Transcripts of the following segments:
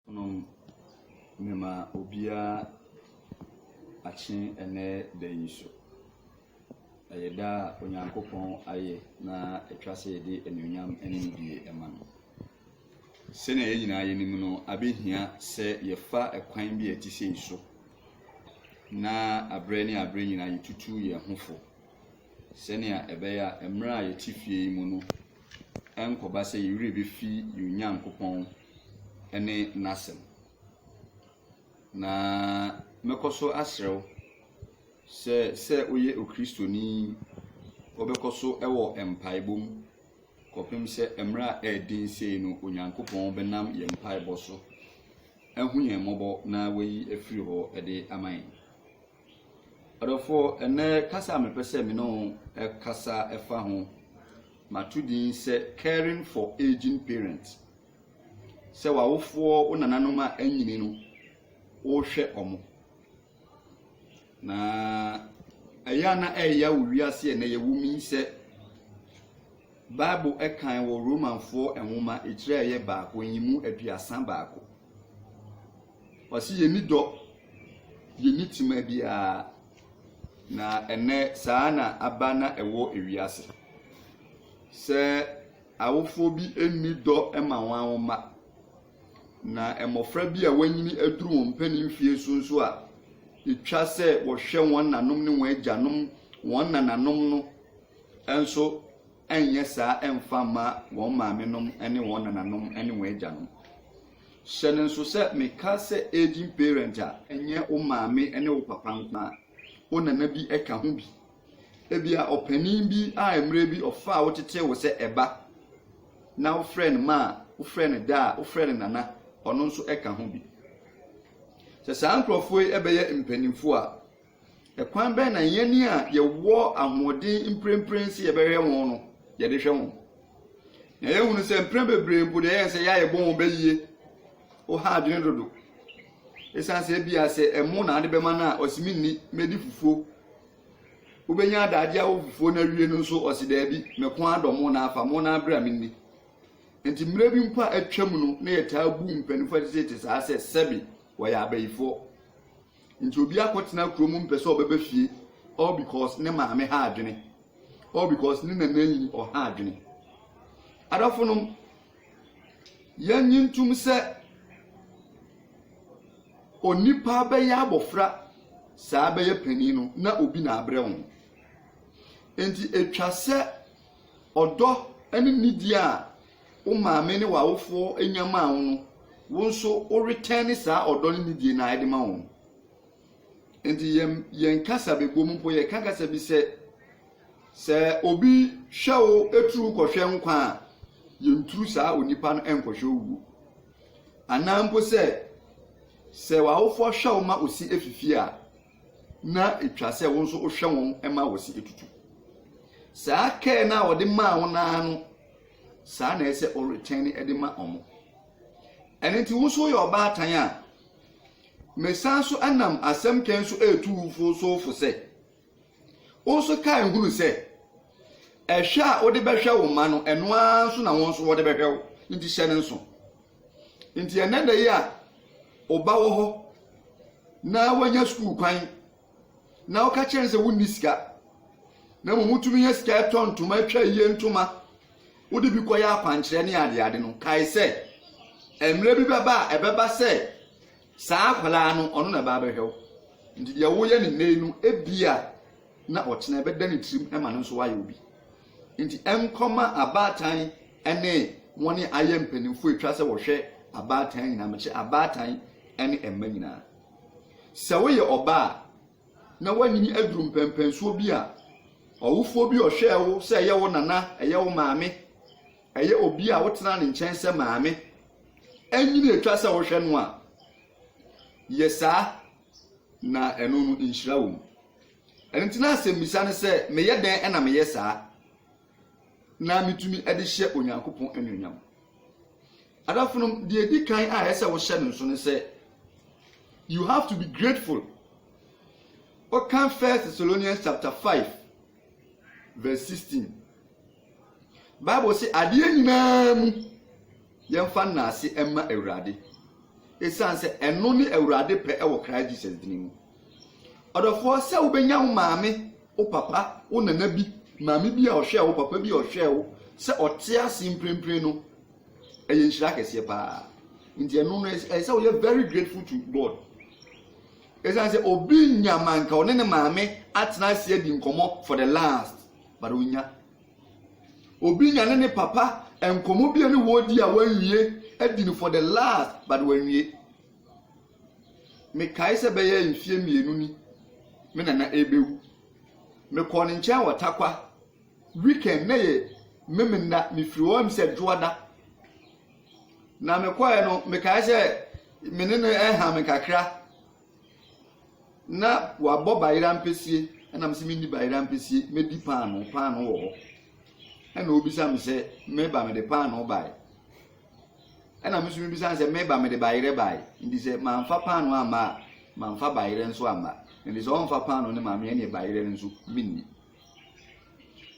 nom mema obiara akye ɛnnɛ da yi so. Ɛyɛ da a Onyankopɔn ayɛ na ɛtwa sɛ yɛde anuonyam ne nidie ma no. Sɛnea yɛn nyinaa yɛnim no, abɛhia sɛ yɛfa ɛkwan bi a ɛte sei so na aberɛ ne aberɛ nyinaa yɛtutu yɛn ho fo sɛnea ɛbɛyɛ a mmerɛ a yɛte fie yi mu no ɛnkɔba sɛ yɛwerɛ bɛfi yɛn Onyankopɔn ne n'Asɛm. Na mɛkɔ so asrɛ wo sɛ, sɛ woyɛ Okristoni yi, wobɛkɔ so wɔ mpaebɔ mu kɔpem sɛ mmerɛ a ɛyɛ den sei no Onyankopɔn bɛnam yɛn mpaebɔ so ahu yɛn mmɔbɔ na wayi afiri hɔ de ama yɛn. Adɔfoɔ, ɛnnɛ kasa a mepɛ sɛ me ne wo kasa fa ho, mato din sɛ Caring for Aging Parents. Sɛ w'awofoɔ, wo nananom a anyini no, wohwɛ ɔmo. Na ɛyɛ a na ɛyɛ wo wiase ɛnɛ yɛwɔ mu yi sɛ Bible ɛkan wɔ Romanfoɔ nwoma etire a ɛyɛ baako nyimu aduasa baako. Ɔse yɛni dɔ, yɛni tema biara. Na ɛnɛ saa na aba na ɛwɔ ewiase. Sɛ awofoɔ bi nni dɔ ma wɔn mma, na mmɔfra bi a wɔanyini aduru wɔn mpanin mfeɛ so nso a, ɛtwa sɛ wɔhwɛ wɔn nanom ne wɔn agyanom, wɔn nananom no nso nyɛ saa mfa mma wɔn maamenom ne wɔn nananom ne wɔn agyanom. Hyɛ no nso sɛ meka sɛ aging parent a, ɛnyɛ wo maame ne wo papa nko ara, wo nana bi ka ho bi. Ebia ɔpanin bi a mmerɛ bi ɔfaa wo tetee wo sɛ ɛba na wofrɛ no ma a, wofrɛ no da a, wofrɛ no nana, ɔno nso ka ho bi. Sɛ saa nkurɔfoɔ yi bɛyɛ mpanimfoɔ a, Ɛkwan bɛn na yɛn ani a yɛwɔ ahoɔden mprempren sɛ yɛbɛhwɛ wɔn no, yɛde hwɛ wɔn? Na yɛahunu sɛ mprɛn bebree mpo deɛ ɛyɛ sɛ yɛayɛ bɔ wɔn bɛyie ɔha adwene dodo. Ɛsiane sɛ ebia sɛ ɛmo na ade bɛma no a, ɔsi mi nni mɛdi fufuo. Wobɛnya adaagye awɔ fufuo no awie no nso ɔsi daabi mɛko adɔ mo na afa mo na abere a menni. Nti mmerɛ bi mpo a atwam no na yɛtaa bu mpanyinfoɔ a ɛte sɛ te saa sɛ sɛbi wɔyɛ abayifoɔ. Nti obi akɔtena kuro mu mpɛ sɛ ɔbɛba fie all because ne maame ha adwene all because ne nana yi ɔha adwene adɔfo nom yɛnyi ntum sɛ onipa bɛyɛ abɔfra saa bɛyɛ panin no na obi na abrɛ ho nti atwa sɛ ɔdɔ ne nidi a Wo maame ne w'awofoɔ nya maa wo no, wo nso wo retɛne saa ɔdɔ ne nidie no ara de ma wɔn. Nti yɛn yɛn kasa bɛbɔ mu mpo yɛka kasa bi sɛ, sɛ obi hwɛ wo turu kɔhwɛ nkwa a, yɛnturu saa onipa no nkɔhwɛ owuo. Anaa mpo sɛ, sɛ w'awofoɔ hwɛ wo ma osi afifie a, na etwa sɛ wo nso wohwɛ wɔn ma wɔsi etutu. Saa kɛɛ no a wɔde maa wo naa no, saa na ɛsɛ ɔretwɛn ne de ma wɔn. Ɛno nti wo nso yɛ ɔbaatan a, mesan so nam asɛm kɛn so ɛretu wofo so fo sɛ, wo nso kae hunu sɛ, ɛhwɛ a wode bɛhwɛ wo mma no, ɛno ara nso na wɔn nso wɔde bɛhwɛ wo, nti hyɛ no nso. Nti ɛnnɛ da yi a wo ba wɔ hɔ na wanya sukuu kwan na woka kyerɛ no sɛ wonni sika na mmom wotumi nya sika ɛtɔ ntoma atwa yie ntoma wode bi kɔyɛ akwankyerɛ ne adeade no kae sɛ mmerɛ bi bɛba a ɛbɛba sɛ Saa akwadaa no, ɔno na ɛba abɛhwɛ wo. Nti deɛ woyɛ no nnɛ yi no, ebia na ɔkyena ɛbɛda ne tirim ma no nso wayɛ obi. Nti ɛnkɔma abaatan ne wɔn a ayɛ mpanimfoɔ atwa sɛ wɔhwɛ abaatan nyinaa, mekyɛ abaatan ne mma nyinaa. Sɛ woyɛ ɔbaa na woanyini aduru mpɛmpɛnsoɔ bi a, ɔwofoɔ bi ɔhwɛɛ wo sɛ ɛyɛ wo nana, ɛyɛ wo maame, Ɛyɛ obi a wotena ne nkyɛn sɛ maame nyin a etwa sɛ wohwɛ no a, yɛ saa, na ɛno no, nhyira wom. Ɛno nti na asɛmmisa ne sɛ, 'Meyɛ dɛn na meyɛ saa na metumi de hyɛ Onyankopɔn anuonyam? Adafonom, deɛ edi kan a ɛsɛ sɛ wohyɛ no nso ne sɛ, you have to be grateful. Ɔka First Thessalonians chapter five verse sixteen. Bible se adeɛ nyinaa mu yɛmfa nnaase mma Awurade. Ɛsiane sɛ ɛno ne Awurade pɛ wɔ Christ Jesus dini mu. Ɔdɔfoɔ sɛ wobɛnya wo maame, wo papa, wo nana bi, maame bi a ɔhwɛɛ wo, papa bi a ɔhwɛɛ wo, sɛ ɔte ase mprempren no, ɛyɛ nhyira kɛseɛ paa. Nti ɛno no ɛyɛ sɛ woyɛ very grateful to God. Ɛsiane sɛ obi nya manka ɔne ne maame atena ase adi nkɔmmɔ for the last But onya. Obi nya ne ne papa nkɔmɔ bi a ne wɔ di a wanwie adi no for the last but wanwie. Mekae sɛ bɛyɛ mfie mmienu ni me nana ɛbɛwu. Mekɔɔ ne nkyɛn wɔ takwa weekend na yɛ memena mefiri hɔ ɛm sɛ dwoada. Na mekɔɛ no mekae sɛ me ne no ɛha me kakra. na wɔabɔ bayerɛ ampesie, ɛna me sɛ mendi bayerɛ ampesie, mɛdi paano, paano wɔ hɔ. Ɛna obisa me sɛ meba mede paano bae. Ɛna me nso mebisa no sɛ meba mede bayerɛ bae. Nti sɛ mamfa paano amma a, mamfa bayerɛ nso amma. Nti sɛ ɔmfa paano no ma me ɛne bayerɛ no nso menni.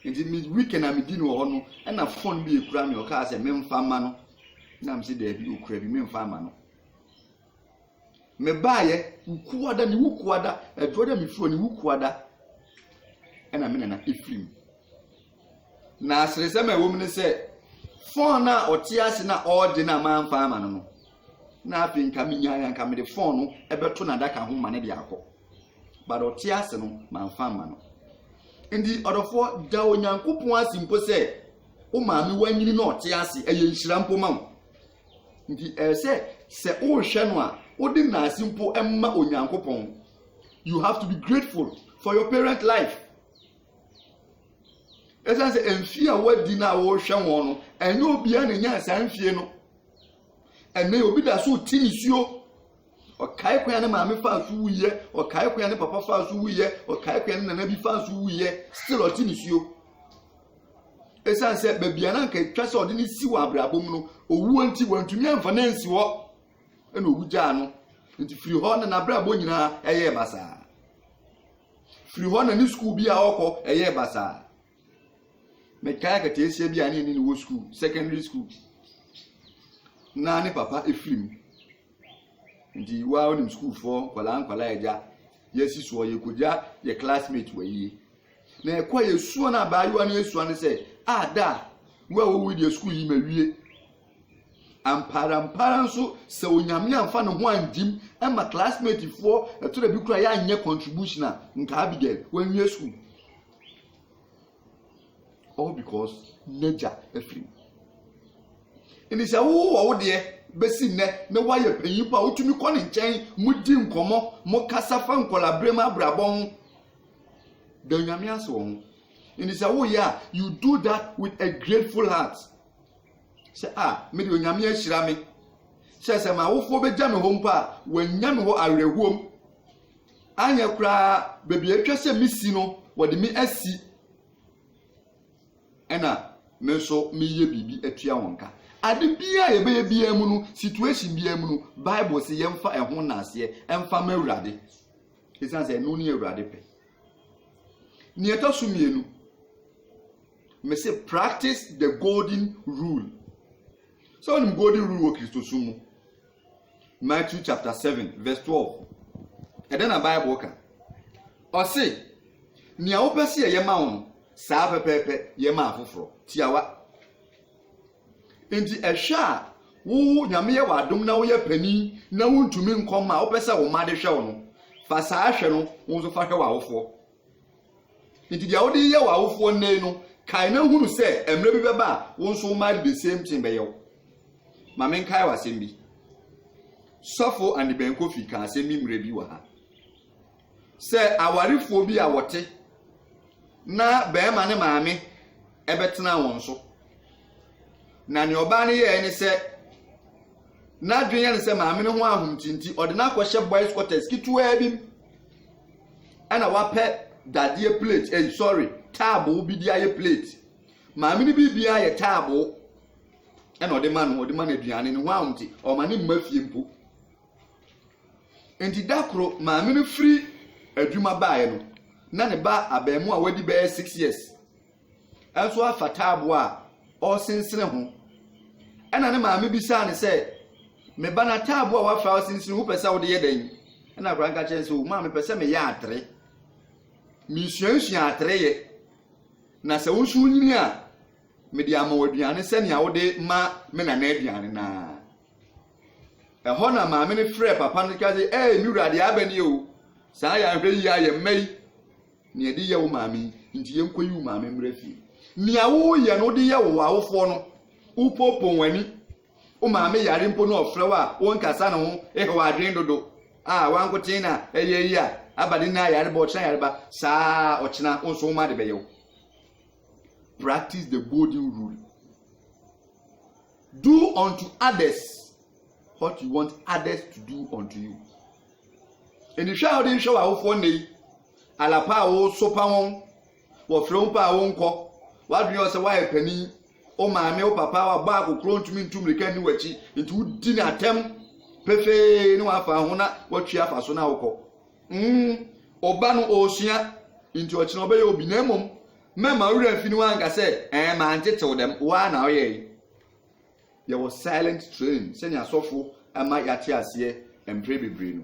Nti me weekend a medi no wɔ hɔ no, ɛna fon bi ekura me ɔkaa sɛ memfa ma no. Na me sɛ daabi okura bi memfa ama no. Me baayɛ kuada ne ho kuada aduro dɛ me furo ne ho kuada ɛna me nana efiri mu na aseresɛm a ɛwɔ mu ne sɛ fɔn no a ɔte ase na ɔregye no a manfa ama no no na afei nka menyaeɛ anka mede fon no ɛbɛto n'adaka ho ma no de akɔ but ɔte ase no manfa ama no nti ɔdɔfoɔ da onyankopɔn ase mpo sɛ wo maame wanyini na ɔte ase ɛyɛ nhyira mpo ma wo Nti ɛyɛ sɛ sɛ worehwɛ no a wode naase mpo ma Onyankopɔn. You have to be grateful for your parent life. Ɛsan sɛ mfie a wadi no a wɔrehwɛ wɔn no, ɛnyɛ obiara na nya saa mfie no. Ɛnɛ obi da so ti nisuo ɔkae kwan ne maame faa so wuyɛ ɔkae kwan ne papa faa so wuyɛ ɔkae kwan ne nana bi faa so wuyɛ still ɔte ne suo Esiane sɛ baabi a na anka etwa sɛ ɔde no si wɔ abrabɔ mu no, owuo nti wantumi amfa no ansi hɔ, ɛna owu gyaa no. Nti firi hɔ na n'abrabɔ nyinaa ɛyɛɛ basaa. Firi hɔ na ne sukuu bi a ɔkɔ ɛyɛɛ basaa. Mekae akataasia bi a ne ne wɔ sukuu, secondary school. Na ne papa efiri mu. Nti waa onim sukuufoɔ nkwadaa nkwadaa agya yɛasi soɔ yɛkɔgya yɛ classmate wɔ yie. Na ɛkɔ a yɛsua no abaayewa no yɛsua no sɛ, a da a wo a wowui deɛ sukuu yi mawie. Ampaara mpaara nso sɛ onyame amfa ne ho angyim ɛma classmate foɔ ɛtɔ da bi kora yɛanyɛ contribution a nka Abigail wanwie sukuu. All because n'agya afiri mu. Nti sɛ wowɔ wo deɛ bɛsi nnɛ na woayɛ panyin po a wotumi kɔ ne nkyɛn modi nkɔmmɔ mokasa fa nkɔla berɛ mu abrabɔ ho Da Onyame ase wɔ ho. Nti sɛ woyɛ a, you do that with a grateful heart. Sɛ a, ah, mede Onyame ahyira me. Sɛ sɛ m'awofoɔ bɛgya me hɔ mpo a, wɔanya me hɔ awerɛhoɔm. Anyɛ koraa baabi a atwa sɛ mesi no, wɔde me asi. Ɛna me nso meyɛ biribi atua wɔn ka. Ade biara yɛbɛyɛ biara mu no, situation biara mu no, Bible se yɛmfa ɛho nnaseɛ ɛmfa ma Awurade. Ɛsiane sɛ ɛno ne Awurade pɛ. Nea ɛtɔ so mmienu, mese practice the golden rule. Sɛ wonim golden rule wɔ Kristosom mu. Matthew chapter 7 verse 12. Ɛdɛ na Bible ka. Ɔse, nea wopɛ sɛ yɛyɛ ma wo no, saa pɛpɛɛpɛ yɛ ma afoforɔ. Tiawa. Enti ɛhwɛ a wo Nyame yɛ wo adom na woyɛ panin na wontumi nkɔ mma a wopɛ sɛ wo mma de hwɛ wo no, fa saa hwɛ no wo nso fa hwɛ w'awofoɔ. Enti deɛ wode yɛ w'awofoɔ nnɛ yi no, kae na hunu sɛ mmerɛ bi bɛba a wo nso wo mma de the same thing bɛyɛ wo. Ma menkae wo asɛm bi. Sɔfo Andy Ben Kofi kaa asɛm bi mmerɛ bi wɔ ha. Sɛ awarefoɔ bi a wɔte na barima ne maame ɛbɛtena wɔn so. Na nea ɔbaa no yɛɛ ne sɛ n'adwene yɛ ne sɛ maame no ho ahomti nti ɔde no akɔhyɛ boys quarters ketewaa bi mu ɛna wapɛ dadeɛ plate ɛyi eh, sorry taaboo bi de ayɛ plate maame no biribiara yɛ taaboo ɛna ɔde ma no ɔde ma no aduane no ho ahomti ɔma ne mma fie mpo Enti da koro maame no firi adwuma baeɛ no, na ne ba abarimaa a wadi bɛyɛ six years nso afa taabo a ɔresensene ho. Ɛna ne maame bisaa no sɛ, me ba na taabo a wafa ɔsensene ho pɛ sɛ wode yɛ dɛn? Ɛna akwadaa nka kyerɛ sɛ, o maame pɛ sɛ meyɛ atere. Mesuasua atere yɛ. Na sɛ wo nso wonyini a, mede ama wo aduane sɛnea wode ma me nana aduane naa. Ɛhɔ na maame no frɛɛ papa no ka sɛ, Ɛɛ, me wura, deɛ aba nie o, saa yɛ anhwɛ yie ara yɛn mma yi na yɛde yɛ wo maame yi, nti yɛnkɔyi wo maame mmra fie. Nea woyɛ no wode yɛ wo awofoɔ no, wopoopoo wɔn ani, wo maame yare mpo na ɔfrɛ wo a wonkasa ne ho, ehe w'adwene dodo a wankoten na ɛyɛ yi a aba ne nna ayare ba ɔkyena yareba saa ɔkyena wo nso wo ma de bɛyɛ wo. Practice the golden rule. Do unto others what you want others to do unto you. Enihwɛ a wode nhwɛ w'awofoɔ nnɛ yi, alapa a wosopa wɔn, wɔfrɛ wo pa a wonkɔ, w'adwene yɛ sɛ woayɛ panin, wo maame wo papa wabɔ akokoro ntumi ntu mmirika nni w'akyi, nti wodi no atɛm pefee ne w'afa ho na watwi afa so na wokɔ. Mm, ɔba no ɔresua, nti ɔkyena ɔbɛyɛ obi, na mmom Mɛma wo werɛ afi no anka sɛ, Ɛɛ, mantetew dɛm, wo ara na woyɛe. Yɛwɔ silent train sɛnea asɔfo ama yɛate aseɛ mpre bebree no.